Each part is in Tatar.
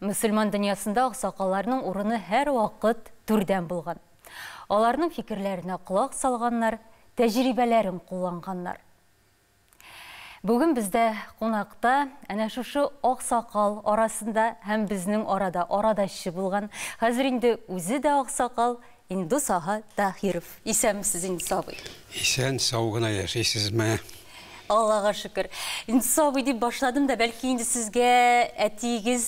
Мөселман дөньясында аксакалларның урыны һәрвакыт түрдән булган. Аларның фикерләренә колак салганнар, тәҗрибәләрен кулланганнар. Бүген бездә кунакта әнә шушы аксакал арасында һәм безнең арада арадашчы булган, хәзер инде үзе дә аксакал, Индус ага Таһиров. Исәнмесез, Индус абый. Исән сау гына яшисезме? Аллага шөкер. Индус абый дип башладым да, бәлки инде сезгә әтиегез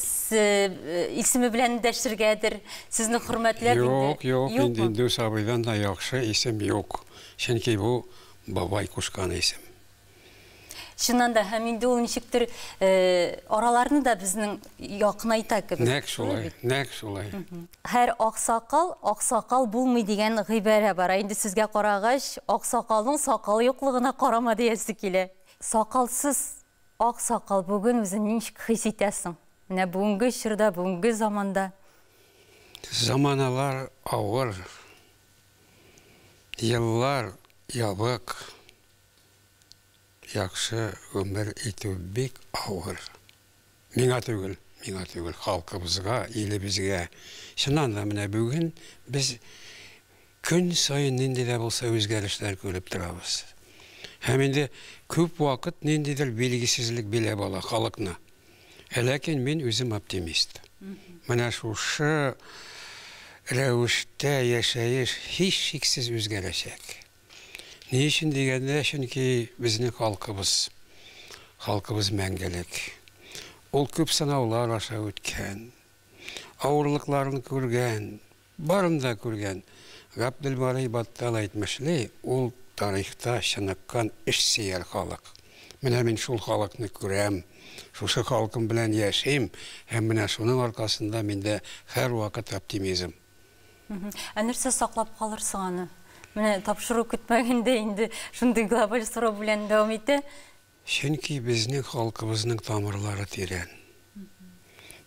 исеме белән дәшергәдер. Сезне хөрмәтләп инде. Юк, юк, инде Индус абыйдан да яхшы исем юк. Чөнки бу бабай кушкан исем. Чыннан да, һәм инде ул ничектер араларны да безнең якынайта кебек. Нәк шулай, нәк шулай. Һәр аксакал, аксакал булмый дигән гыйбарә бар. Инде сезгә карагач, аксакалның сакалы юклыгына карама диясе килә. Сакалсыз аксакал бүген үзен ничек хис итәсең? Менә бүгенге чорда, бүгенге заманда. Заманалар авыр. Еллар ябык. Яхшы гомер итү бик авыр. Миңа түгел, миңа түгел, халкыбызга, илебезгә. Чыннан да, менә бүген без көн саен нинди дә булса үзгәрешләр күреп торабыз. Һәм инде күп вакыт ниндидер билгесезлек биләп ала халыкны. Ә ләкин мин үзем оптимист. Менә шушы рәвештә яшәеш һичшиксез үзгәрәчәк. Ни өчен дигәндә, чөнки безнең халкыбыз, халкыбыз мәңгелек. Ул күп сынаулар аша үткән, авырлыкларын күргән, барын да күргән. Габделбарый Баттал әйтмешли, ул тарихта чыныккан эшсөяр халык. Менә мин шул халыкны күрәм, шушы халкым белән яшим һәм менә шуның аркасында миндә һәрвакыт оптимизм. Ә нәрсә саклап калырсың аны? Менә тапшыру көтмәгәндә инде шундый глобаль сорау белән дәвам итә. Чөнки безнең халкыбызның тамырлары тирән.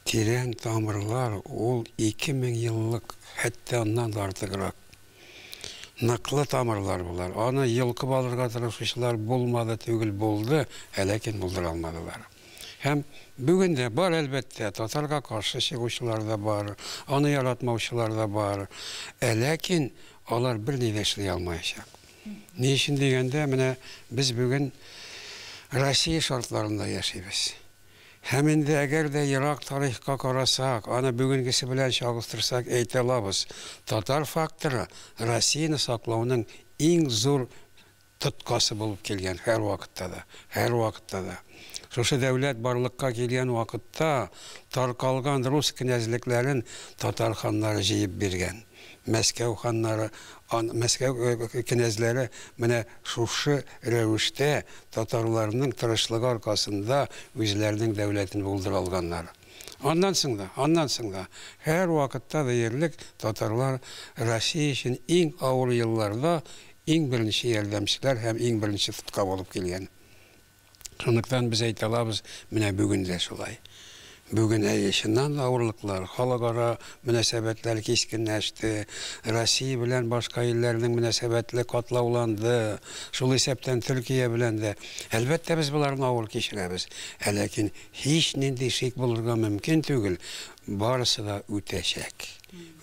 Тирән тамырлар ул ике мең еллык, хәтта аннан да артыграк. Ныклы тамырлар болар. Аны йолкып алырга тырышучылар булмады түгел, булды, ә ләкин булдыра алмадылар. Һәм бүген дә бар, әлбәттә, татарга каршы чыгучылар да бар, аны яратмаучылар да бар. Ә ләкин алар берни дә эшли алмаячак. Ни өчен дигәндә, менә без бүген Россия шартларында яшибез. Һәм инде әгәр дә ерак тарихка карасак, аны бүгенгесе белән чагыштырсак, әйтә алабыз, татар факторы Россияне саклауның иң зур тоткасы булып килгән һәрвакытта да, һәрвакытта да. Шушы дәүләт барлыкка килгән вакытта таркалган рус кенәзлекләрен татар ханнары җыеп биргән. Мәскәү ханнары, ан, Мәскәү кенәзләре менә шушы рәвештә татарларның тырышлыгы аркасында үзләренең дәүләтен булдыра алганнар. Аннан соң да, аннан соң да, һәрвакытта да ерлек татарлар Россия өчен иң авыр елларда иң беренче ярдәмчеләр һәм иң беренче тотка булып килгән. Шунлыктан без әйтә алабыз, менә бүген дә шулай. Бүген, әйе, чыннан да авырлыклар, халыкара мөнәсәбәтләр кискенләште, Россия белән башка илләрнең мөнәсәбәтле катлауланды, шул исәптән Төркия белән дә. Әлбәттә, без боларны авыр кичерәбез, ә ләкин Һичнинди шик булырга мөмкин түгел, барысы да үтәчәк.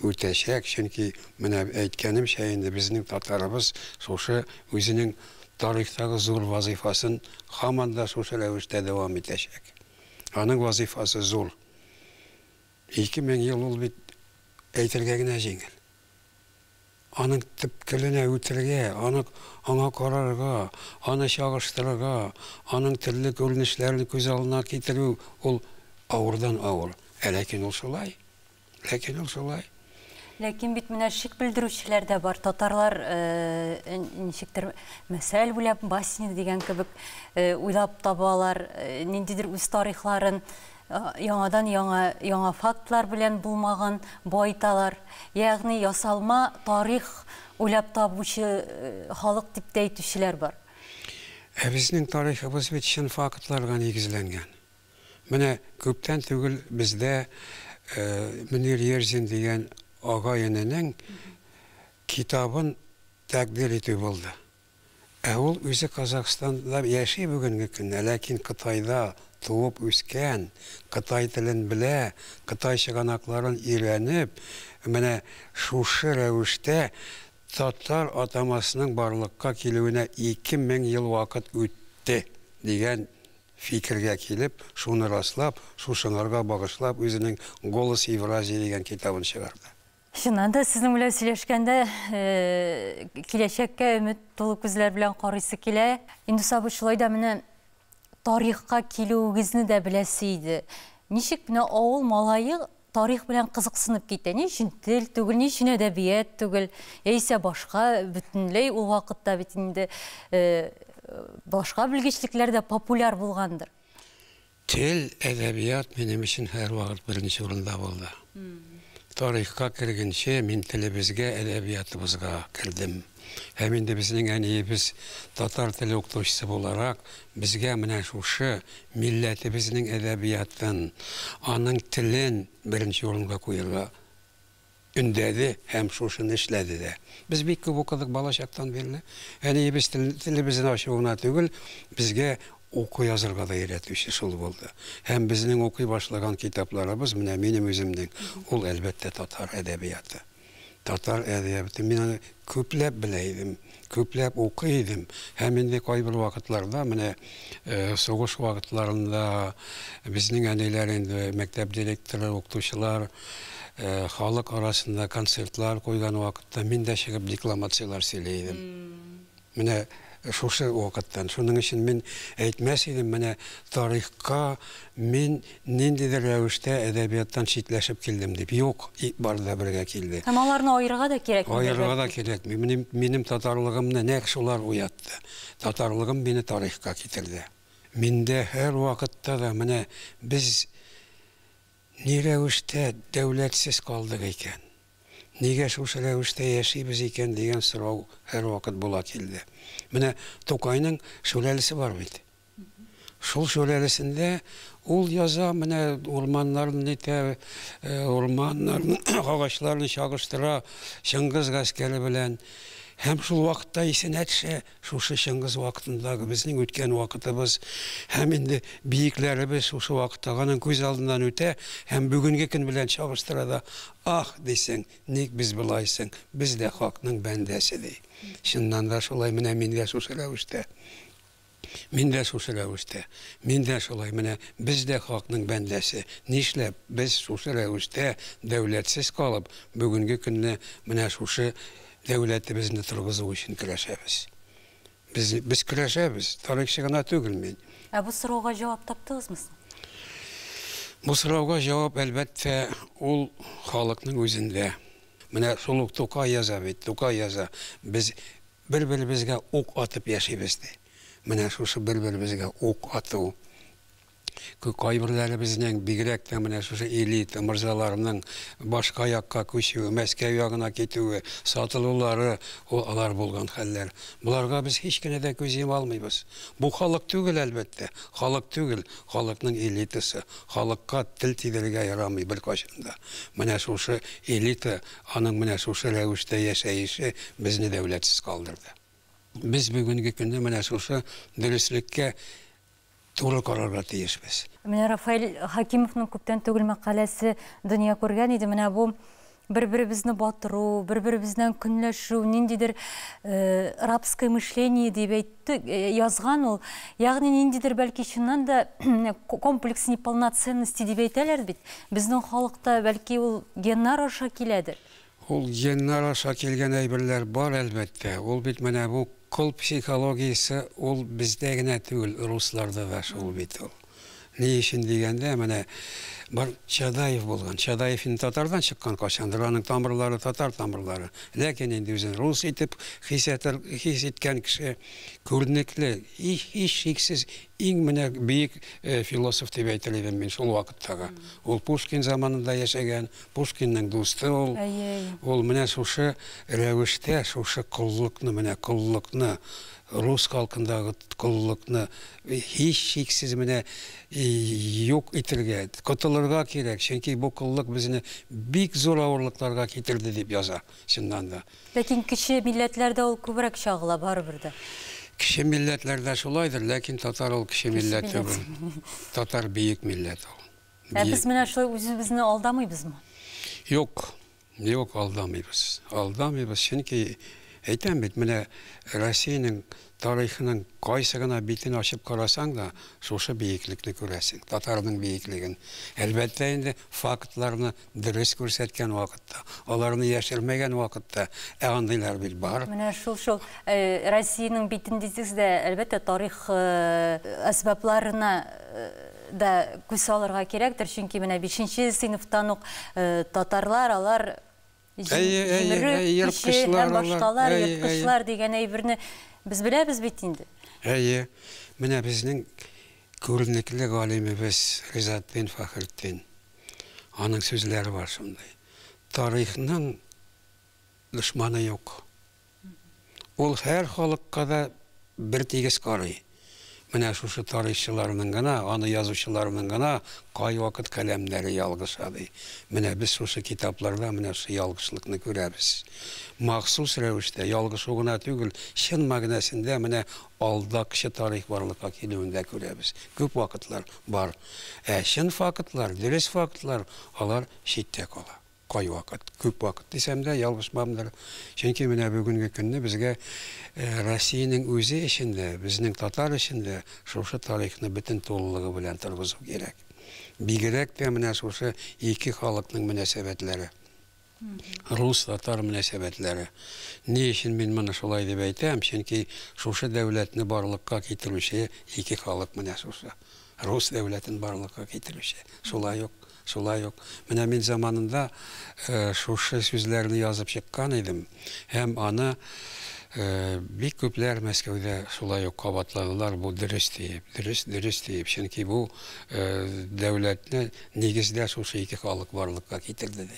Үтәчәк, чөнки менә әйткәнемчә инде, безнең татарыбыз шушы үзенең тарихтагы зур вазыйфасын һаман да шушы рәвештә дәвам итәчәк. Аның вазыйфасы зур. Ике мең ел ул бит әйтергә генә җиңел. Аның төп теленә үтергә, аны аңа карарга, аны чагыштырырга, аның төрле күренешләрен күз алдына китерү ул авырдан авыр. Ә ләкин ул шулай. Ләкин ул шулай. Ләкин бит менә шик белдерүчеләр дә бар. Татарлар ничектер мәсәл уйлап, басни дигән кебек уйлап табалар, ниндидер үз тарихларын яңадан яңа яңа фактлар белән булмаган байталар. Ягъни ясалма тарих уйлап табучы халык дип тә әйтүчеләр бар. Ә безнең тарихыбыз бит чын фактларга нигезләнгән. Менә күптән түгел бездә Мөнир Ерзин дигән агай-эненең китабын тәкъдир итү булды. Ә ул үзе Казахстанда яши бүгенге көнне, ләкин Кытайда туып үскән, кытай телен белә, кытай чыганакларын өйрәнеп, менә шушы рәвештә татар атамасының барлыкка килүенә ике мең ел вакыт үтте, дигән Фикергә килеп, шуны раслап, шушыңарга багышлап үзенең Голос Евразии дигән китабын чыгарды. Чыннан да, сезнең белән сөйләшкәндә киләчәккә өмет тулы күзләр белән карыйсы килә. Индус абый, шулай да менә тарихка килүегезне дә беләсе иде. Ничек менә авыл малае тарих белән кызыксынып китә. Ни өчен тел түгел, ни өчен әдәбият түгел, яисә башка бөтенләй ул вакытта бит инде башка белгечлекләр дә популяр булгандыр. Тел, әдәбият минем өчен һәрвакыт беренче урында булды. Тарихка кергенче мин телебезгә, әдәбиятыбызга кердем. Һәм инде безнең әниебез татар теле укытучысы буларак, безгә менә шушы милләтебезнең әдәбиятын, аның телен беренче урынга куерга өндәде һәм шушыны эшләде дә. Без бик күп укыдык балачактан бирле. Әниебез телебезне ачу гына түгел, безгә уку-язырга да өйрәтүче шул булды. Һәм безнең укый башлаган китапларыбыз, менә минем үземнең, ул, әлбәттә, татар әдәбияты. Татар әдәбиятын мин аны күпләп белә идем, күпләп укый идем. Һәм инде кайбер вакытларда, менә сугыш вакытларында безнең әниләр инде мәктәп директоры, укытучылар халык арасында концертлар куйган вакытта мин дә чыгып декламацияләр сөйли идем. Менә шушы вакыттан. Шуның өчен мин әйтмәс идем, менә тарихка мин ниндидер рәвештә әдәбияттан читләшеп килдем дип. Юк, бары да бергә килде. Һәм аларны аерырга да кирәкми, бәлки? Аерырга да кирәкми. Минем, минем татарлыгымны нәкъ шулар уятты. Татарлыгым мине тарихка китерде. Миндә һәрвакытта да менә без ни рәвештә дәүләтсез калдык икән? Нигә шушы рәвештә яшибез икән дигән сорау һәрвакыт була килде. Менә Тукайның шүрәлесе бар бит. Шул шүрәлесендә ул яза, менә урманнарны нитә, э, урманнарны, агачларны чагыштыра Чыңгыз гаскәре белән. Һәм шул вакытта исенә төшә, Шушы Чыңгыз вакытындагы безнең үткән вакытыбыз һәм инде биекләребез шушы вакыттагы аның күз алдыннан үтә һәм бүгенге көн белән чагыштыра да, Аһ! дисең, ник без болай соң, без дә хакның бәндәсе, ди. Чыннан да шулай, менә мин дә шушы рәвештә. Мин дә шушы рәвештә. Мин дә шулай, менә без дә хакның бәндәсе. Нишләп без шушы рәвештә дәүләтсез калып, бүгенге көнне менә шушы Дәүләтебезне торгызу өчен көрәшәбез. Без, без көрәшәбез, тарихчы гына түгел мин. Ә бу сорауга җавап таптыгызмы соң? Бу сорауга җавап, әлбәттә, ул халыкның үзендә. Менә шул ук Тукай яза бит, Тукай яза, без бер-беребезгә ук атып яшибез, ди. Менә шушы бер-беребезгә ук ату, Кайберләребезнең, бигрәк тә менә шушы элита морзаларының башка якка күчүе, Мәскәү ягына китүе, сатылулары, ул алар булган хәлләр. Боларга без һич кенә дә күз йома алмыйбыз. Бу халык түгел, әлбәттә. Халык түгел, халыкның элитасы. Халыкка тел тидерергә ярамый беркайчан да. Менә шушы элита, аның менә шушы рәвештә яшәеше безне дәүләтсез калдырды. Без бүгенге көнне менә шушы дөреслеккә туры карарга тиешбез. Менә Рафаэль Хәкимовның күптән түгел мәкаләсе дөнья күргән иде. Менә бу бер-беребезне батыру, бер-беребездән көнләшү, ниндидер рабское мышление дип әйтте, язган ул. Ягъни ниндидер бәлки чыннан да комплекс неполноценности дип әйтәләр бит. Безнең халыкта бәлки ул геннар аша киләдер. Ул геннар аша килгән әйберләр бар, әлбәттә. Ул бит менә бу кол психологиясе, ул бездә генә түгел, русларда да шул бит ул. Ни өчен дигәндә, менә бер Чадаев булган. Чадаев инде татардан чыккан кайчандыр, аның тамырлары татар тамырлары. Ләкин инде үзен рус итеп хис итер, хис иткән кеше күренекле, һичшиксез иң менә бөек философ дип әйтер идем мин шул вакыттагы. Ул Пушкин заманында яшәгән. Пушкинның дусты ул. Әй-әй. Ул менә шушы рәвештә, шушы коллыкны, менә коллыкны, рус халкындагы коллыкны һичшиксез менә юк итергә, котылырга кирәк, чөнки бу коллык безне бик зур авырлыкларга китерде, дип яза, чыннан да. Ләкин кече милләтләрдә ул күбрәк чагыла, барыбер дә. Кече милләтләрдә шулайдыр, ләкин татар ул кече милләт түгел. Татар бөек милләт ул. Ә без менә шулай үзебезне алдамыйбызмы? Юк, юк, алдамыйбыз. Алдамыйбыз, чөнки әйтәм бит, менә Россиянең тарихының кайсы гына битен ачып карасаң да, шушы биеклекне күрәсең, татарның биеклеген. Әлбәттә инде, фактларны Дөрес күрсәткән вакытта, аларны яшермәгән вакытта, ә андыйлар бит бар. Менә шул шул Россиянең битен дисез дә, әлбәттә, тарих әсбапларына да күз салырга кирәктер, чөнки менә бишенче сыйныфтан ук татарлар, алар җимерү көче һәм башкалар, ерткычлар дигән әйберне без беләбез бит инде. Әйе, менә безнең күренекле галимебез Ризатдин Фәхретдин. Аның сүзләре бар шундый. Тарихның дошманы юк. Ул һәр халыкка да бер тигез карый. Менә шушы тарихчыларның гына, аны язучыларның гына кайвакыт каләмнәре ялгыша, ди. Менә без шушы китапларда менә шушы ялгышлыкны күрәбез. Махсус рәвештә, ялгышу гына түгел, чын мәгънәсендә менә алдакчы тарих барлыкка килүен дә күрәбез. Күп вакытлар бар. Ә чын фактлар, дөрес фактлар, алар читтә кала. Кайвакыт, күп вакыт дисәм дә, ялгышмамдыр. Чөнки менә бүгенге көнне безгә Россиянең үзе өчен дә, безнең татар өчен дә шушы тарихны бөтен тулылыгы белән торгызу кирәк. Бигрәк тә менә шушы ике халыкның мөнәсәбәтләре. Рус-татар мөнәсәбәтләре. Ни өчен мин моны шулай дип әйтәм, чөнки шушы дәүләтне барлыкка китерүче ике халык менә шушы, рус дәүләтен барлыкка китерүче. Шулай ук, шулай ук. Менә мин заманында шушы сүзләрне язып чыккан идем, һәм аны бик күпләр Мәскәүдә шулай ук кабатладылар, бу дөрес диеп, дөрес, дөрес диеп, чөнки бу дәүләтне нигездә шушы ике халык барлыкка китерде дип.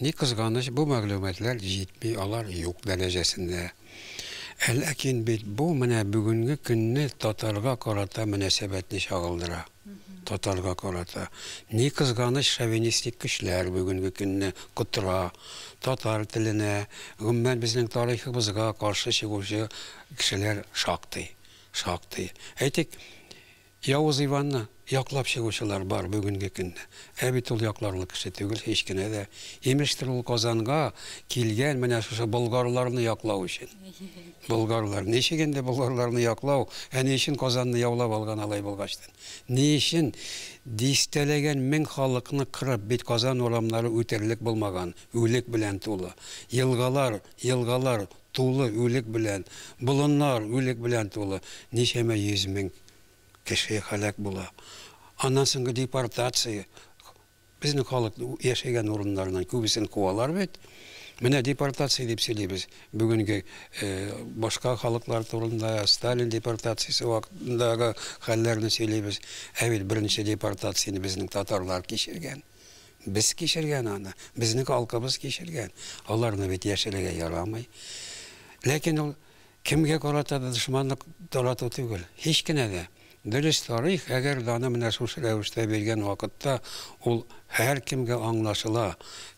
Ни кызганыч, бу мәгълүматлар җитми, алар юк дәрәҗәсендә. Ә ләкин бит бу менә бүгенге көнне татарга карата мөнәсәбәтне чагылдыра. Татарга карата. Ни кызганыч, шовинистик көчләр бүгенге көнне котыра. Татар теленә, гомумән безнең тарихыбызга каршы чыгучы кешеләр шактый. Шактый. Әйтик. Явыз Иванны яклап чыгучылар бар бүгенге көнне. Ә бит ул якларлык кеше түгел һич кенә дә. Имештер ул Казанга килгән менә шушы болгарларны яклау өчен. Болгарлар. Ничек инде болгарларны яклау, ә ни өчен Казанны яулап алган алай булгачтын? Ни өчен дистәләгән мең халыкны кырып, бит Казан урамнары үтерлек булмаган, үлек белән тулы. Елгалар, елгалар тулы үлек белән, болыннар үлек белән тулы, ничәмә йөз мең кеше һәлак була. Аннан соңгы депортация, безнең халык яшәгән урыннарыннан күбесен куалар бит. Менә депортация дип сөйлибез, бүгенге башка халыклар турында, Сталин депортациясе вакытындагы хәлләрне сөйлибез, ә бит беренче депортацияне безнең татарлар кичергән. Без кичергән аны, безнең халкыбыз кичергән. Аларны бит яшерергә ярамый. Ләкин ул кемгә карата да дошманлык тарату түгел. Һич кенә дә. Дөрес тарих, әгәр даны менә шушы рәвештә биргән вакытта, ул һәркемгә аңлашыла.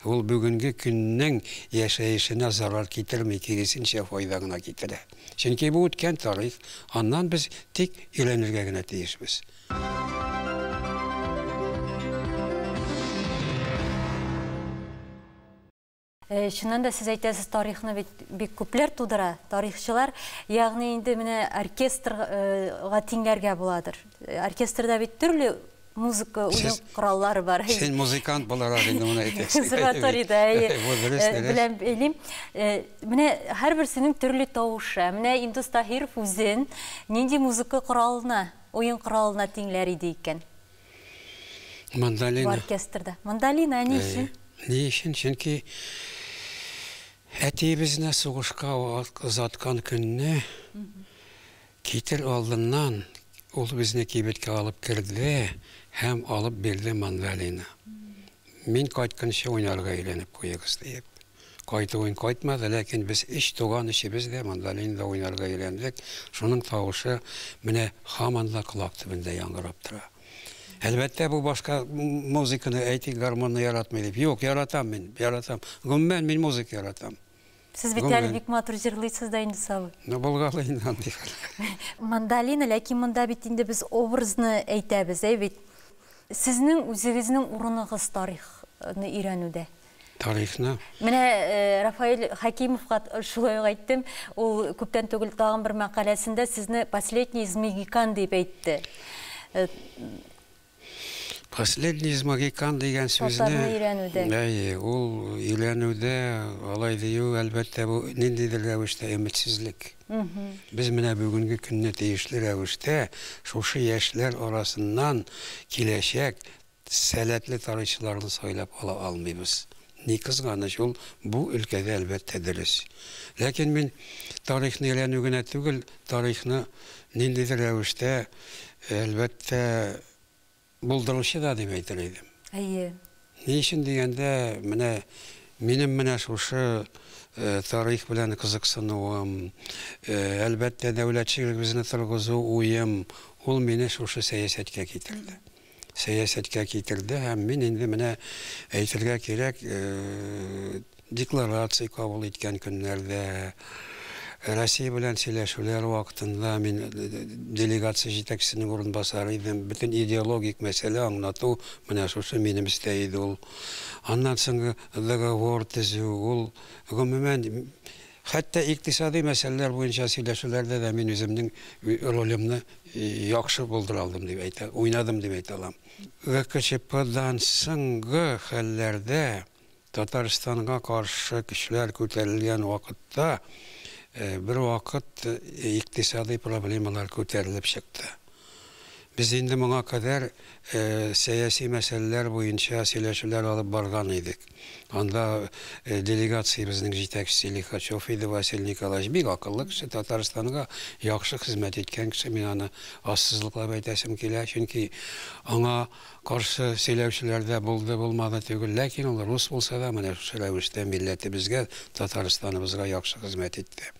Ул бүгенге көннең яшәешенә зарар китерми, киресенчә, файда гына китерә. Чөнки бу үткән тарих, аннан без тик өйрәнергә генә тиешбез. Э, чыннан да сез әйтәсез тарихны бит бик күпләр тудыра тарихчылар ягъни инде менә оркестрга э, тиңләргә буладыр э, оркестрда бит төрле музыка уен кораллары бар сез музыкант буларак инде моны әйтәсез консерваториядә белән бәйлим менә һәрберсенең төрле тавышы менә индус таһиров үзен нинди музыка коралына Уен коралына тиңләр иде икән. Мандолина. Бу оркестрда. Мандолина, ә ни өчен? Ни өчен? Чөнки әтиебезне сугышка озаткан көнне китер алдыннан ул безне кибеткә алып керде һәм алып бирде мандолина. Мин кайтканчы уйнарга өйрәнеп куегыз диеп. Кайтуын кайтмады, ләкин без өч туган өчебез дә мандолинада уйнарга өйрәндек. Шуның тавышы менә һаман да колак төбендә яңгырап тора. Әлбәттә, бу башка музыканы әйтик, гармонны яратмый дип. Юк, яратам мин, яратам. Гомумән, мин музыка яратам. Сез бит әле бик матур җырлыйсыз да инде, Савы. Ну, булгалы инде андый хәл. Мандолина, ләкин монда бит инде без образны әйтәбез, әй бит. Сезнең үзегезнең урыныгыз тарихны өйрәнүдә? тарихны. Менә Рафаэль Хәкимовка шулай ук әйттем, ул күптән түгел тагын бер мәкаләсендә сезне последний из магикан дип әйтте. Последний из магикан дигән сүзне Татарны өйрәнүдә. Әйе, ул өйрәнүдә алай дию, әлбәттә, бу ниндидер рәвештә өметсезлек. Без менә бүгенге көнне тиешле рәвештә шушы яшьләр арасыннан киләчәк сәләтле тарихчыларны сайлап ала алмыйбыз. Ни кызганыч, ул бу өлкәдә, әлбәттә, дөрес. Ләкин мин тарихны өйрәнү генә түгел, тарихны ниндидер рәвештә, әлбәттә, булдыручы да дип әйтер идем. Әйе. Ни өчен дигәндә, менә минем менә шушы тарих белән кызыксынуым, әлбәттә, дәүләтчелегебезне торгызу уем, ул мине шушы сәясәткә китерде. сәясәткә китерде һәм мин инде менә әйтергә кирәк декларация кабул иткән көннәрдә Россия белән сөйләшүләр вакытында мин э, э, э, делегация җитәкчесенең урынбасары идем. Бөтен идеологик мәсьәлә аңлату менә шушы минем эштә иде ул. Аннан соң договор төзү, ул гомумән Хәтта икътисадый мәсьәләләр буенча сөйләшүләрдә дә мин үземнең ролемны яхшы булдыра алдым дип әйтә, уйнадым дип әйтә алам. ГКЧПдан соңгы хәлләрдә Татарстанга каршы көчләр күтәрелгән вакытта бервакыт икътисадый проблемалар күтәрелеп чыкты. Без инде моңа кадәр сәяси мәсьәләләр буенча сөйләшүләр алып барган идек. Анда делегациябезнең җитәкчесе Лихачев иде Василий Николаевич. Бик акыллы кеше, Татарстанга яхшы хезмәт иткән кеше. Мин аны ассызыклап әйтәсем килә. Чөнки аңа каршы сөйләүчеләр дә булды, булмады түгел. Ләкин ул рус булса да, менә шушы рәвештә милләтебезгә, Татарстаныбызга яхшы хезмәт итте.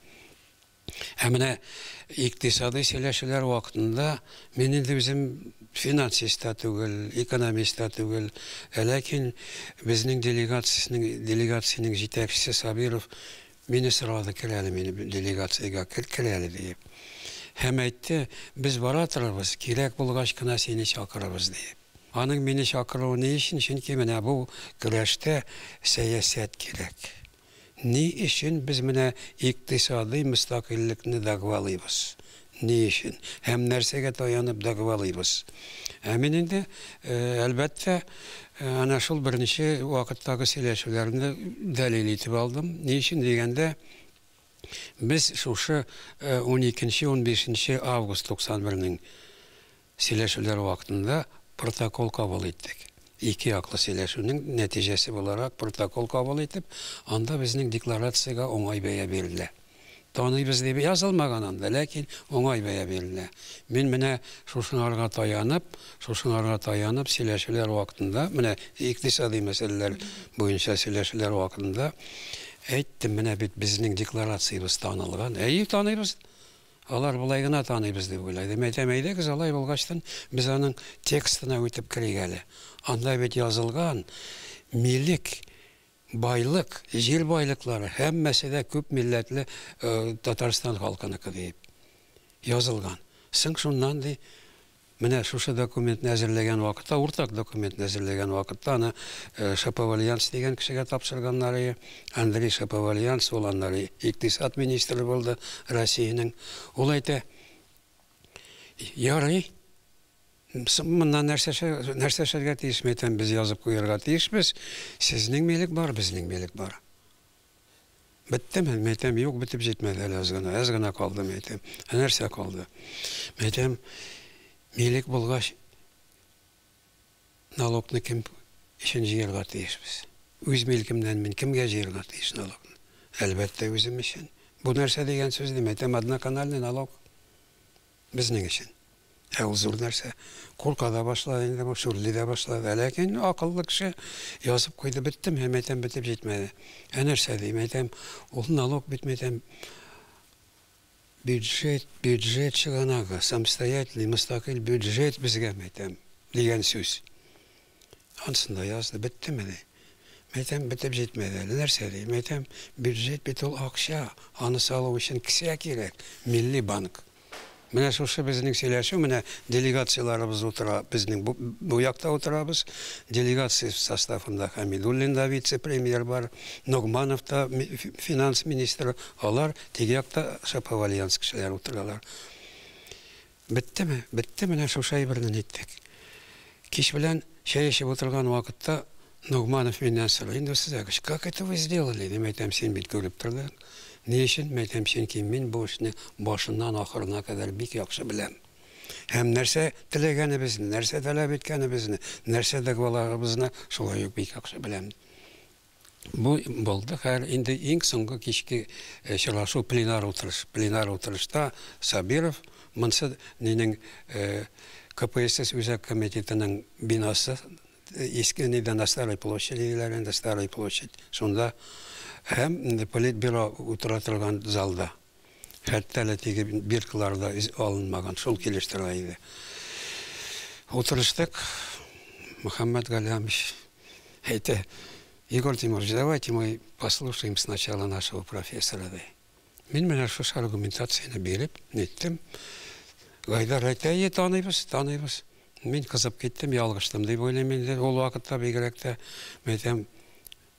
Ә менә икътисадый сөйләшүләр вакытында мин инде үзем финансист та түгел, экономист та түгел, ә ләкин безнең делегациясенең делегациянең җитәкчесе Сабиров мине сорады, кер әле мине делегациягә, кер, кер әле, диеп. Һәм әйтте, без бара торабыз, кирәк булгач кына сине чакырабыз, диеп. Аның мине чакыруы ни өчен? Чөнки менә бу көрәштә сәясәт кирәк. Ни өчен без менә икътисадый мөстәкыйльлекне дәгъвалыйбыз? Ни өчен һәм нәрсәгә таянып дәгъвалыйбыз? Ә мин инде, әлбәттә, әнә шул беренче вакыттагы сөйләшүләрне дәлил итеп алдым. Ни өчен дигәндә, без шушы уникенче-унбишенче август 91 нең Сөйләшүләр вакытында протокол кабул иттек. Ике яклы сөйләшүнең нәтиҗәсе буларак протокол кабул итеп, анда безнең декларациягә уңай бәя бирелә. Таныйбыз дип язылмаган анда, ләкин уңай бәя бирелә. Мин менә шушыңарга таянып, шушыңарга таянып сөйләшүләр вакытында, менә икътисадый мәсьәләләр буенча сөйләшүләр вакытында әйттем, менә бит безнең декларациябез танылган. Әйе, таныйбыз. Алар болай гына таныйбыз дип уйлыйдым. Әйтәм, әйдәгез, алай булгачтын, без аның текстына үтеп керик әле. Анда бит язылган, милек, байлык, җир байлыклары, һәммәсе дә күп милләтле Татарстан халкыныкы диеп язылган. Соң шуннан, ди, Менә шушы документны әзерләгән вакытта, уртак документны әзерләгән вакытта, аны Шаповальянс дигән кешегә тапшырганнар ие. Андрей Шаповальянс, ул аннары икътисад министры булды Россиянең. Ул әйтә, Ярый, соң моннан нәрсә эшләргә, нәрсә эшләргә тиеш? Мин әйтәм, без язып куярга тиешбез, сезнең милек бар, безнең милек бар. Беттеме? Мин әйтәм, юк, бетеп җитмәде әле аз гына, әз генә калды, мин әйтәм. Ә нәрсә калды? Мин әйтәм, милек булгач, налогны кем өчен җыярга тиешбез? Үз милкемнән мин кемгә җыярга тиеш налогны? Әлбәттә, үзем өчен. Бу нәрсә дигән сүз, дим, әйтәм, одноканальный налог. Безнең өчен. Ә ул зур нәрсә. Курка да башлады инде бу, шүрли дә башлады. Ләкин акыллы кеше язып куйды, беттем, һәм әйтәм, бетеп җитмәде. Ә нәрсә дим, әйтәм, ул налог бит, мәйтәм, бюджет, бюджет чыганагы, самостоятельный, мостакыйль бюджет безгә, мәйтәм, дигән сүз. Ансын да язды. Беттемени? Мәйтәм, бетеп җитмәде әле. Нәрсә ди? Мәйтәм, бюджет бит ул акча, аны салу өчен кесә кирәк, милли банк. Менә шушы безнең сөйләшү, менә делегацияләребез утыра, безнең бу, бу якта утырабыз. Делегация составында Хәмидуллин да вице-премьер бар, Ногманов та финанс министры, алар теге якта Шаповальянск кешеләре утыралар. Беттеме? Бетте, менә шушы әйберне ниттек? Кич белән чәй эчеп утырган вакытта Ногманов миннән сорый, инде сез әгыч, как это вы сделали? Мин әйтәм, син бит күреп тордың. Ни өчен? Мин әйтәм, чөнки мин бу эшне башыннан ахырына кадәр бик яхшы беләм. Һәм нәрсә теләгәнебезне, нәрсә таләп иткәнебезне, нәрсә дәгъваларыбызны шулай ук бик яхшы беләм. Бу булды хәер, инде иң соңгы кичке очрашу пленар утырыш. Пленар утырышта Сабиров, монсы нинең, КПСС Үзәк комитетының бинасы, иске нидә, на Старой площади диләр инде, Старая площадь, шунда һәм Политбюро утыра торган залда. Хәтта әле теге биркалар да алынмаган, шул килештерә иде. Утырыштык, Мөхәммәт Галямович әйтә, Егор Тимурович, давайте мы послушаем сначала нашего профессора, ди. Мин менә шушы аргументацияне биреп, ниттем. Гайдар әйтә, е, таныйбыз, таныйбыз. Мин кызып киттем, ялгыштым дип уйлыйм инде, ул вакытта бигрәк тә, мәйтәм,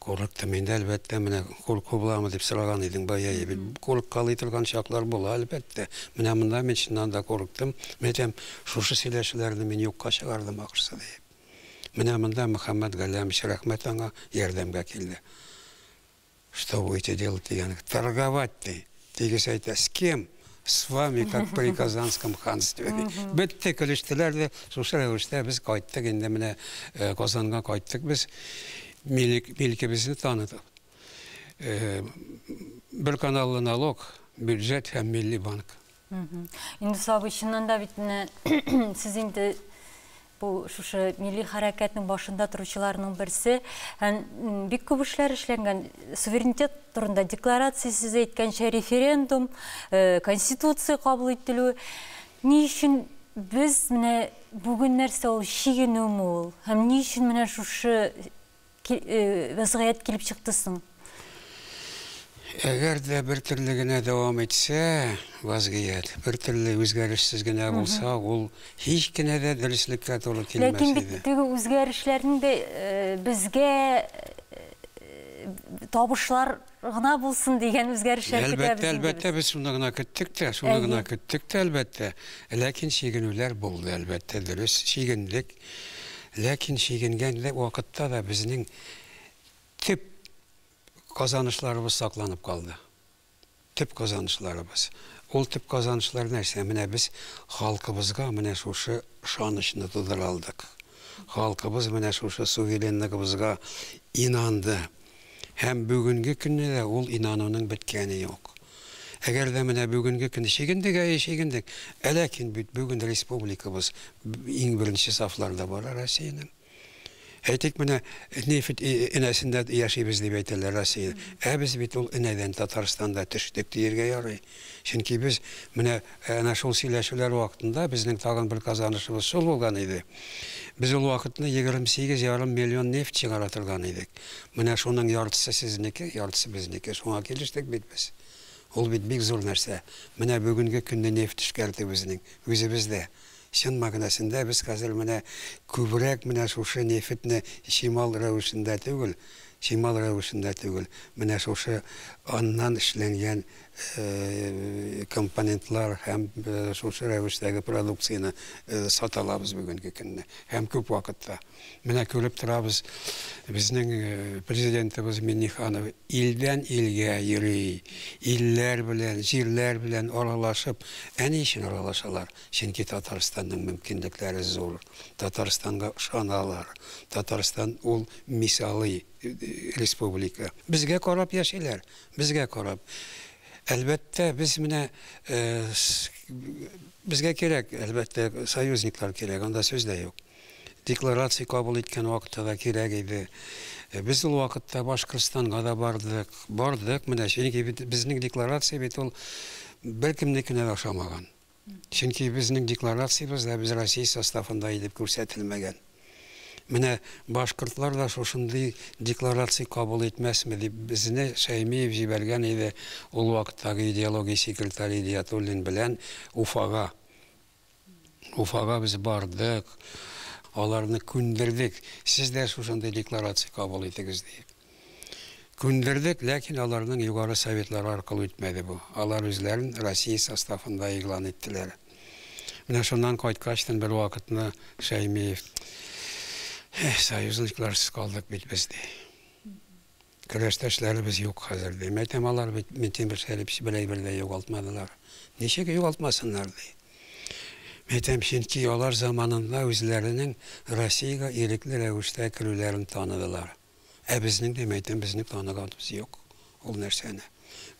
Курыктым инде, әлбәттә, менә курку буламы дип сораган идең бая, бит курыккалый торган чаклар була, әлбәттә. Менә монда мин чыннан да курыктым. Мин әйтәм, шушы сөйләшүләрне мин юкка чыгардым ахрысы, диеп. Менә монда Мөхәммәт Галләмович, рәхмәт аңа, ярдәмгә килде. Что будете делать дигән, торговать ди. Тигез әйтә, с кем? С вами, как при Казанском ханстве. Бетте, көлештеләр дә, шушы рәвештә без кайттык, инде менә э, Казанга кайттык без, милкебезне таныдык. Э, бер каналлы налог, бюджет һәм милли банк. Инде сабый, чыннан да бит менә сез инде Бу шушы милли хәрәкәтнең башында торучыларның берсе һәм бик күп эшләр эшләнгән. Суверенитет турында декларация сез әйткәнчә референдум, э, конституция кабул ителү. Ни өчен без менә бүген нәрсә ул чигенүме ул? Һәм ни өчен менә шушы вәзгыять килеп чыкты соң? Әгәр дә бер төрле генә дәвам итсә, вазгыять, бер төрле үзгәрешсез генә булса, ул һич кенә дә дөреслеккә туры килмәс иде. Ләкин бит теге үзгәрешләрнең дә э, безгә э, табышлар Гына булсын дигән үзгәрешләр көтәбез инде без. Әлбәттә, әлбәттә, без шуны гына көттек тә, шуны гына көттек тә, әлбәттә. Ләкин чигенүләр булды, әлбәттә, дөрес, чигендек. Ләкин чигенгән вакытта да безнең төп казанышларыбыз сакланып калды. Төп казанышларыбыз. Ул төп казанышлар нәрсә? Менә без халкыбызга менә шушы ышанычны тудыра алдык. Халкыбыз менә шушы суверенлыгыбызга инанды. Һәм бүгенге көнне дә ул инануның беткәне юк. Әгәр дә менә бүгенге көнне чигендек, әйе, чигендек, ә ләкин бит бүген республикабыз иң беренче сафларда бара Россиянең. Әйтик, менә нефть энәсендә яшибез дип әйтәләр Россия. Ә без бит ул энәдән Татарстанда төштек диергә ярый. Чөнки без менә әнә шул сөйләшүләр вакытында безнең тагын бер казанышыбыз шул булган иде. Без ул вакытны 28 ярым миллион нефть чыгара торган идек. Менә шуның яртысы сезнеке, яртысы безнеке. Шуңа килештек бит без. Ул бит бик зур нәрсә. Менә бүгенге көнне нефть эшкәртү безнең үзебездә. Чын мәгънәсендә без хәзер менә күбрәк менә шушы нефтьне чимал рәвешендә түгел, чимал рәвешендә түгел, менә шушы аннан эшләнгән компонентлар һәм шушы рәвештәге продукцияне сата алабыз бүгенге көнне һәм күп вакытта. Менә күреп торабыз, безнең Президентыбыз Миңнеханов илдән илгә йөри, илләр белән, җирләр белән аралашып, ә ни өчен аралашалар? Чөнки Татарстанның мөмкинлекләре зур, Татарстанга ышаналар, Татарстан ул мисалый республика. Безгә карап яшиләр, безгә карап. Әлбәттә, без менә безгә кирәк, әлбәттә, союзниклар кирәк, анда сүз дә юк. Декларация кабул иткән вакытта да кирәк иде. Без ул вакытта Башкортстанга да бардык, бардык менә, чөнки безнең декларация бит ул беркемнекенә дә ошамаган. Чөнки безнең декларациябездә без Россия составында идеп күрсәтелмәгән. Менә башкортлар да шушындый декларация кабул итмәсме дип безне Шәймиев җибәргән иде ул вакыттагы идеология секретаре Идиятуллин белән Уфага. Уфага без бардык, аларны күндердек, сез дә шушындый декларация кабул итегез диеп. Күндердек, ләкин аларның Югары Советлары аркылы үтмәде бу. Алар үзләрен Россия составында игълан иттеләр. Менә шуннан кайткачтын бервакытны Шәймиев, Эх, союзникларсыз калдык бит без, ди. Көрәштәшләребез юк хәзер, ди. Мәйтәм, алар бит Минтимер Шәрипович бер әйбер дә югалтмадылар. Ничек югалтмасыннар, ди. Мәйтәм, чөнки алар заманында үзләренең Россиягә ирекле рәвештә керүләрен таныдылар. Ә безнең дә, мәйтәм, безнең таныганыбыз юк ул нәрсәне.